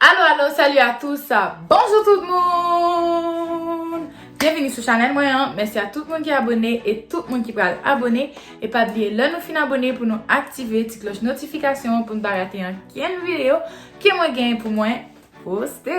Alo alo salut a tous bonjou tout moun byenvini sou chanèl mwen an mèsi a tout moun ki abone e tout moun ki pral abone e pa bliye lè nou fin abone pou nou aktive ti kloch notifikasyon pou nou pa rate ankenn videyo ke mwen gen pou mwen poste.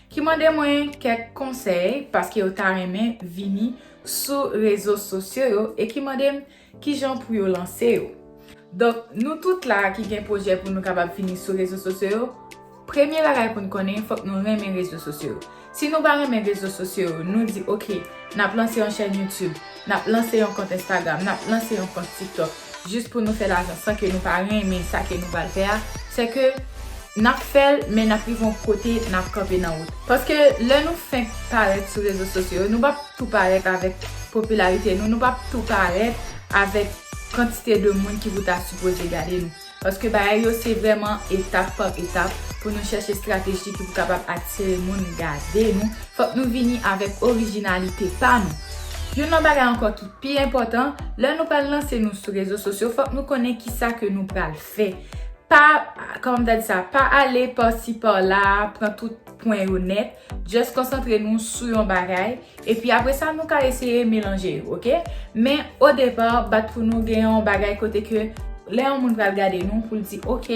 Ki mande mwen kèk konsèy paske yo ta renmen vini sou rezo sosyo yo e ki mande m kijan pou yo lanse yo. Donk, nou tout la ki gen pwojè pou nou kapab vini sou rezo sosyo yo, premye bagay pou n konnen fòk nou renmen rezo sosyo yo. Si nou pa renmen rezo sosyo yo, nou di ok, n ap lanse yon chèn YouTube. Nap lanse yon kont Instagram, nap lanse yon kont TikTok jis pou nou fè lajan san ke nou pa renmen sa ke nou pral fè a, se ke nap fèl men nap rive yon kote nap kanpe nan wout. Paske lè nou fenk parèt sou rezo sosyo yo, nou pap tou parèt avèk popilarite nou, nou pap tou parèt avèk kantite de moun ki pou ta sipoze gade nou. Paske bagay yo se vrèman etap pa etap pou nou chèche strateji ki pou kapab atire moun gade nou, fòk nou vini avèk orijinalite pa nou. Youn nan bagay ankò ki pi enpòtan, lè nou pral lanse nou sou rezo sosyo fòk nou konnen kisa ke nou pral fè. Pa, kòman m ta di sa, pa ale pa si pa la, pran tout pwen yo nèt, Just konsantre nou sou yon bagay, epi apre sa nou ka eseye melanje yo, ok? Men, o depa, bat pou nou gen yon bagay kote ke lè yon moun pral gade nou pou l di ok,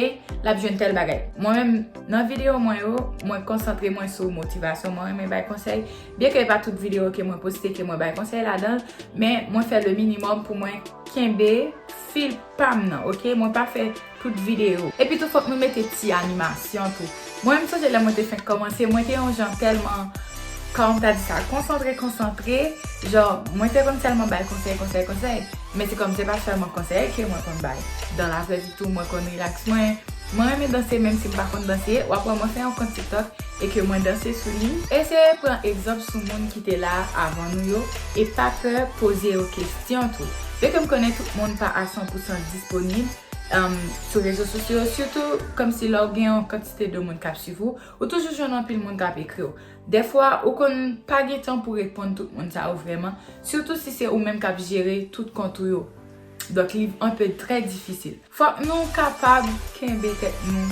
l ap jwenn tèl bagay. Mwen menm, nan videyo mwen yo, mwen konsantre mwen sou motivasyon, mwen renmen bay konsèy, byen ke e pa tout videyo ke mwen poste ke mwen bay konsèy ladan l, men mwen fè le minimòm pou mwen kenbe fil pa m nan, ok? Mwen pa fè Tout video. Epi tou fok nou mete ti animasyon tou. Mwen menm sonje lè mwen te fenk komanse mwen te yon jan telman kòm ta di sa konsantre konsantre jan mwen te konn selman bay konsèy konsèy konsèy men se kòm se pa selman konsèy ke mwen konn bay dan la vrè vi tou mwen konn relax mwen mwen renmen danse menm si m pa konn danse wap wè mwen fè yon kont tiktok e ke mwen danse sou li eseye pran egzanp sou moun ki te la avan nou yo e pa pè poze yo kestyon tou byen ke m konnen tout moun pa a san pousan disponib. sou rezo sosyo yo sitou kòmsi lè w gen yon kantite de moun k ap swiv ou, ou toujou jwenn anpil moun k ap ekri w. Dèfwa ou konn pa gen tan pou reponn tout moun sa yo vrèman, sitou si se ou menm k ap jere tout kont ou yo. Donk li an pe trè difisil. Fòk nou kapab kenbe tèt nou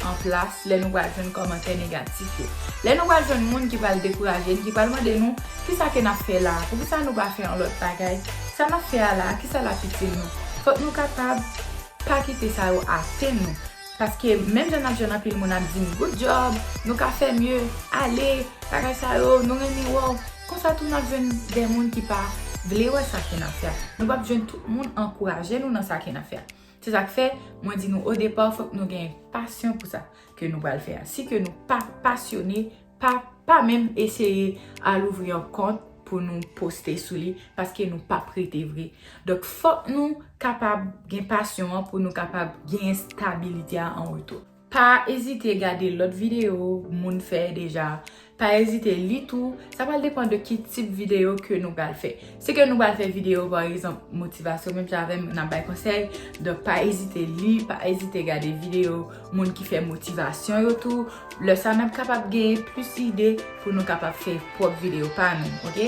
an plas lè nou pral jwenn kòmantè negatif yo. Lè nou pral jwenn moun ki pral dekouraje n, ki pral mande nou kisa ke n ap fè la a, poukisa nou pa fè yon lòt bagay. Sa n ap fè a la a, ki sa l ap itil nou? Fòk nou kapab pa kite sa yo atenn nou. Paske, menm jan n ap jwenn anpil moun ap di n, Good job! Nou ka fè mye! Ale! Bagay sa yo! Nou renmen wè w! Konsa tou n ap jwenn de moun ki pa vle wè sa ke n ap fè a. Nou pap jwenn tout moun ankouraje nou nan sa ke n ap fè a. Se sa k fè, mwen di nou odepa, fòk nou gen pasyon pou sa ke nou pral fè a. Si ke nou pa pasyone. Pa pa menm eseye al ouvri yon kont pou nou poste sou li paske nou pap rete vre. Donk fòk nou kapab gen pasyon an pou nou kapab genyen stabilite a an retou. Pa ezite gade lòt videyo moun fè deja, pa ezite li tou, sa pral depan de ki tip videyo ke nou pral fè. Si ke nou pral fè video pa egzanp motivasyon menm jan avèm nan bay konsèy, donk pa ezite li, pa ezite gade video moun ki fè motivasyon yo tou, lè sa nap kapab gen plis ide pou nou kapab fè pwòp video pa nou ok.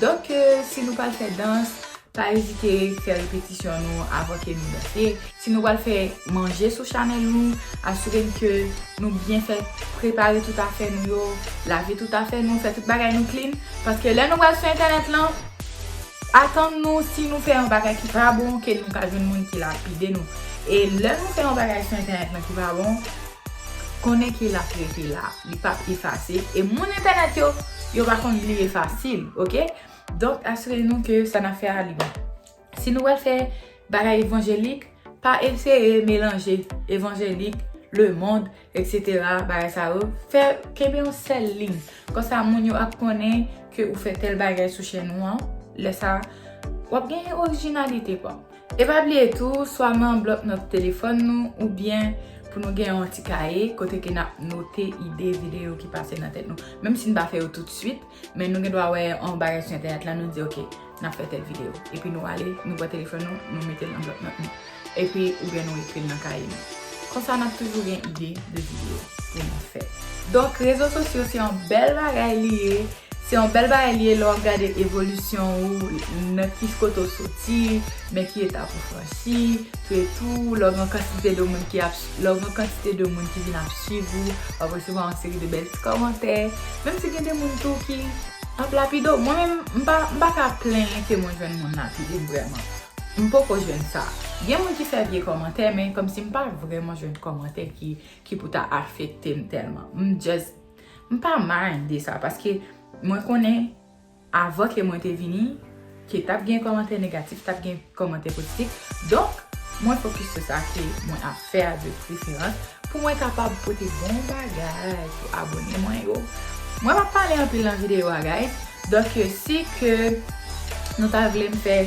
Donk si nou pral fè dans, pa ezite fè repetisyon nou avan ke nou danse. Si nou pral fè manje sou chanèl nou, asire n ke nou byen fè prepare tout afè nou yo, lave tout afè nou, fè tout bagay nou clean, paske lè nou pral sou entènèt lan, atann nou si nou fè yon bagay ki pa bon ke nou ka jwenn moun ki lapide nou. E lè nou fè yon bagay sou entènèt lan ki pa bon, konnen ke lap rete la, li pap efase, e moun entènèt yo, yo pa konn bliye fasil, ok? Donk asire nou ke sa nap fè a li bon. Si nou wè fè bagay evanjelik, pa eseye melanje evanjelik, lemond, etc. Bagay sa yo. Fè, kenbe yon sèl liy. Konsa moun yo ap konnen ke ou fè tèl bagay sou chèn ou an. Lè sa, w ap gen orijinalite pa w. E pa bliye tou, swa nan blòk nòt telefòn nou oubyen pou nou gen yon ti kaye kote ke n ap note ide videyo ki pase nan tèt nou. Menm si n pa fè yo toutswit, Men nou gen dwa wè yon bagay sou entènèt la, nou di ok, n ap fè tèl videyo. Epi nou ale, nou pran telefòn nou, nou mete l nan blòk nòt nou. Epi oubyen nou ekri l nan kaye nou. Konsa n ap toujou gen ide de videyo pou nou fè. Donk rezo sosyo se yon bèl bagay li ye. Se yon bèl bagay li ye lè w ap gade evolisyon ou, nan ki kote w soti, nan ki etap ou franchi. Etou lè w gen yon kantite de moun ki ap lè w gen kantite de moun ki vin ap swiv ou, wap resevwa yon seri de bèl ti kòmantè, menm si gen de moun tou ki ap lapide w. Mwen menm, m pa, m pa ka plenyen ke mwen jwenn moun lapide m vrèman. M poko jwenn sa. Gen moun ki fè vye kòmantè, men kòmsi m pa vrèman jwenn kòmantè ki, ki pou ta afekte m tèlman. M just, m pa mind de sa, paske mwen konnen. Avan ke mwen te vini, ke tap gen kòmantè negatif, tap gen kòmantè pozitif, donk mwen fokis sou sa ke mwen ap fè a de preferans, pou mwen kapab pote bon bagay pou abone mwen yo. Mwen pap pale anpil nan videyo a guys, donk si ke nou ta vle m fè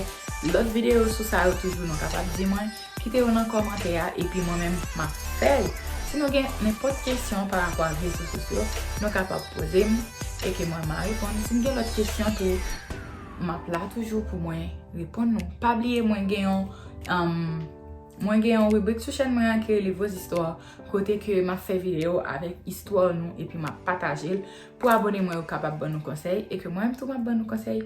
lòt videyo sou sa yo toujou nou kapab di mwen. Kite yo nan kòmantè a epi mwen menm map fèl. Si nou gen nenpòt kesyon pa rapò ak rezo sosyo nou kapab poze m e ke mwen ma reponn. Si n gen lòt kesyon tou map la toujou pou mwen reponn nou. Pa bliye mwen gen yon mwen gen yon ribrik sou chèn mwen an ki rele vos histoires kote ke map fè videyo avèk istwa nou epi map pataje l pou abone mwen yo kapab ban nou konsèy e ke mwen menm tou map ban nou konsèy.